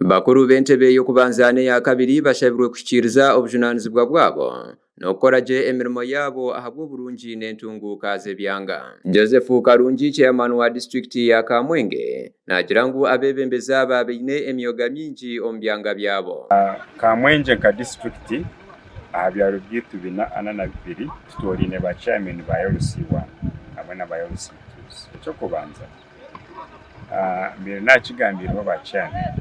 Bakuru b'entebe y'okubanza n'eya kabiri bashabirwe kuhikiiriza obujunaanizibwa bwabo n'okukora gye emirimo yaabo ahabw'oburungi n'entunguuka z'ebyanga. Joseph Karungi, Chairman wa Disiturikiti ya Kamwenge, naagira ngu abeebembezi aba baine emyoga mingi omu byanga byabo. Kamwengye nka disiturikiti, aha byaro byaitu bina ana na bibiri, tutooraine ba chairman ba LC1 hamwe na ba LC2s. Eky'okubanza. Mbaire naakigambiirwe ba chairman.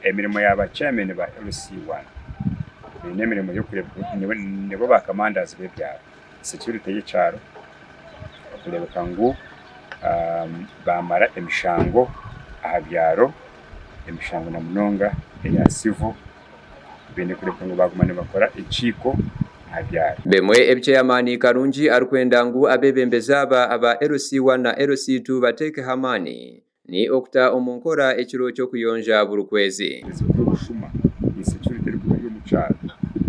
Emirimo ya ba chairman ba LC I eine emirimo y'okureeba ngu nibo ba commanders b'ebyaro. Security y'ekyaro, okureebeka ngu baamara emishango aha byaro, emishango na munonga eya civil. baine kureka ngu baaguma nibakora ekiiko aha byaaro. Bemwe ebi Cheyamaani Karungi arikwenda ngu abeebembezi aba aba LC I na LC ii bateekeho amaani, ni okuta omu nkora ekiro ky'okuyonja buri kwezi. Ebizibu by'obushuma, insecurity, erikuba eri omu kyaaro,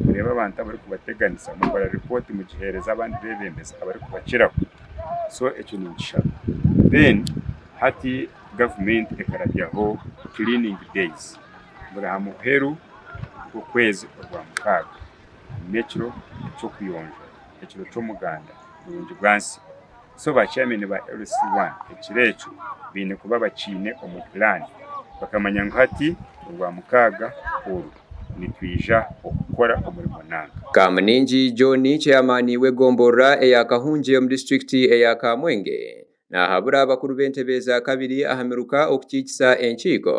kureeba abantu abarikubateganisa, mukora repooti mugiheereza abandi beebembezi abarikubakiraho, so ekyo ninkishaba. Then hati gavumenti ekarabyaho cleaning days. buri aha muheru gw'okwezi ogwa mukaaga. N'ekiro ky'okuyonja, ekiro ky'omuganda murungi gwa nsi. So ba chairman ba LC I ekiro ekyo baine kuba bakiine omu plan, bakamanya ngu hati orwa mukaaga oru nitwija okukora omurimo nanka. Kamuningi John, Chairman w'egomborora eya Kahungye omu district eya Kamwenge, Naahabura abakuru b'entebe eza kabiri aha miruka okukiikisa enkiiko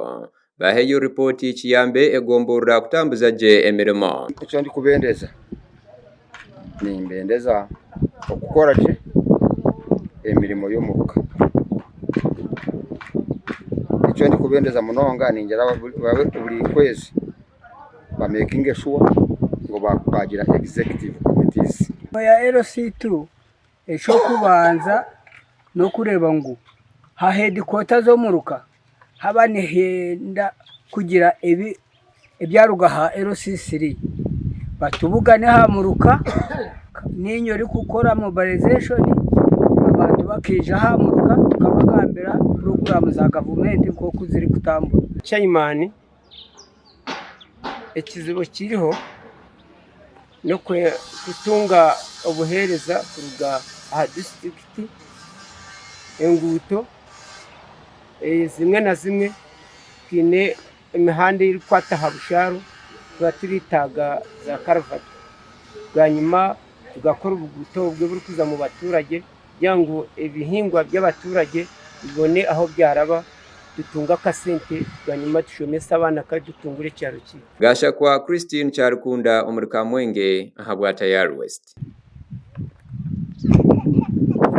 baheyo ripooti kiyambe egomborora kutambuza gye emirimo. Eki ndikubendeza, nimbendeza okukora gye emirimo y'omuruka. Eki ndikubendeza munonga ningira buri kwezi bamekinge shuwa ngu baagira Executive Committees. Eky'okubanza n'okureeba ngu ha heedikwota z'omuruka haba nihenda kugira ebyaruga ha LC3 batubugane aha muruka niinye orikukora mobilizeshoni abantu bakaija aha muruka tukabagambira puroguraamu za gavumenti nk'oku zirikutambura. Chairman ekizibu ekiriho n'okutunga obuheereza kuruga aha disitirikiti, enguuto zimwe na zimwe twine emihanda erikukwata aha bushaaru twaba turaetaaga zaakaruvati bwanyima tugakora obuguuto obwo oburikuza mu baturage kugira ngu ebihingwa by'abaturage bibone ahu byaraba, tutunge akasente bwanyima tushomese abaana kandi tutungure ekyaro kyaitu. Gashakwa Christine Kyarikunda omuri Kamwenge aha Bwatayari West.